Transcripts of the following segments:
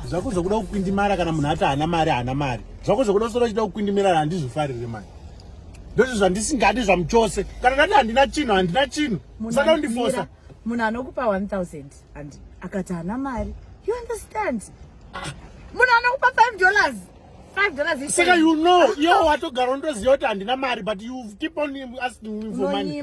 zvako zvokuda kukwindimara kana munhu ati haana mari haana mari zvako zvokuda kusora uchida kukwindimirara handizvifarire mani ndozvo zvandisingadi zvamuchose kana ndati handina chinhu handina chinhu musada undifosa munhu anokupa 1000 and akati haana mari you understand ah. munhu anokupa 5 dollars saka you know yo watogara undoziva kuti handina mari but you keep on asking me for money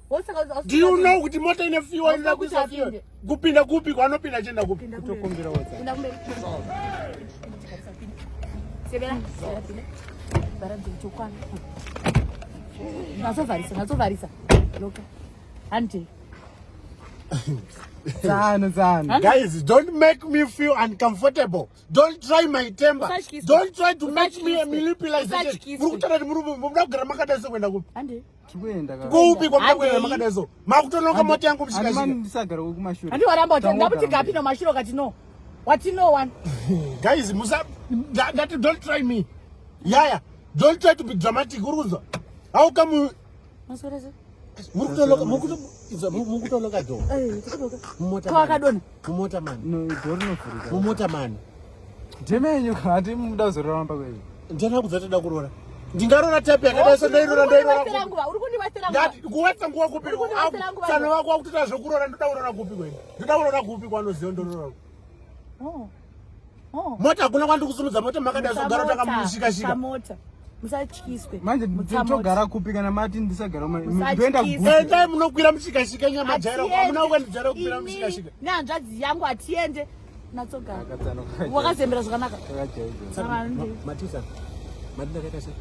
Do you know kuti mota ine fuel inoda kuisa fuel? Kupinda kupi kwanopinda achienda kupi? Kutokumbira wodza. Enda kumberi. Sebela. Bara dzokwana. Nazovharisa, nazovharisa. Loka. Hande. Zano, zano. Guys, don't make me feel uncomfortable. Don't try my temper. Don't try to make me manipulate. Murukutana murume, muda kugara makadasa kuenda kupi? Hande. kuupi kwamuda kuenda makadai so makutonoka mota yangu mushikashikandisagara wekumashure handi waramba kuti ndakuti kapi nomashure ukati no wati no one guys musa ndati don't try me yaya don't try to be dramatic uri kunzwa how come mukutoloka do mumota kwakadona Mumota mani. No, door rinovhurika. Mumota mani. Ndime yenyu hati muda kuzorora mamba kwenyu. Ndina kudza toda kurora. Ndingarora tape yakadai so ndairora ndairora. Uri kundiwetsera nguva. Ndati kuwetsa nguva kupi? Tsano wako wakutoita zvekurora ndoda kurora kupi kwenyu? Ndoda kurora kupi kwanoziva ndorora. Oh. Oh. Mota hakuna kwandiri kusimudza mota makadai zogara takamushika shika. Mota. Musatyiswe. Manje togara kupi kana mati ndisagara ndoenda kupi? Endai munokwira mushika shika nyama jairo. Hamuna kwandijara kukwira mushika shika. Nehanzvadzi yangu hatiende. Natsogara. Wakazembera zvakanaka. Matisa. Matinda kaita sei?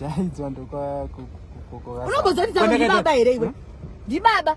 Jaidzwa ndokwa kukokoka. Unombozotiza kuti baba here iwe? Ndi baba.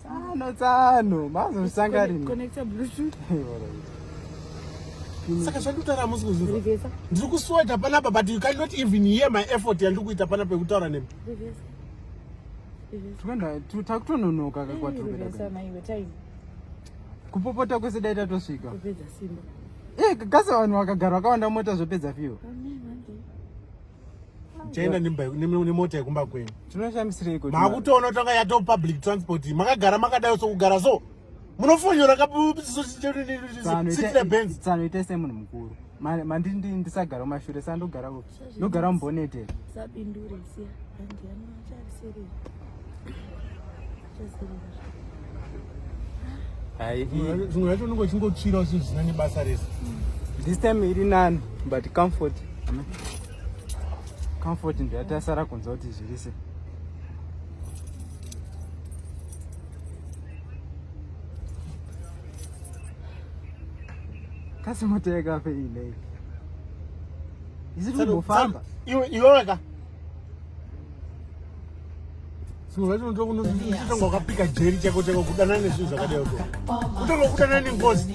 tsano tsano mazosangarina saka zvandikutaura hamusi kuzviva ndiri kusweta panapa but you cannot even hear my effort yandiri kuita panapa yekutaura nemi takutononoka kakwatikupopota kwese dai tatosvika eh, kasa vanhu vakagara vakawanda mota zvopedza fiwo chaenda nemota yekumba kwenyu tinoshamisireko makutoona tanga yato public transport makagara makadayo sokugara so munofonyora katsano ite semunhu mukuru mandi ndisagara mashure sa ndogara ndogara mubonete sabindure siya andiani macharisirei zvimwe zvacho unenge uchingotsvira usi zvisina nebasa rese this time iri nani but comfort comfort ndoyatasara kunza kuti zvirise kasi moto yakafe inei isiri kumbofamba iweweka zvinhu zvacho unotoa kunotanga wakapika jeri chako chako kudanana nezvinhu zvakadai uko kutanga kudana nengozi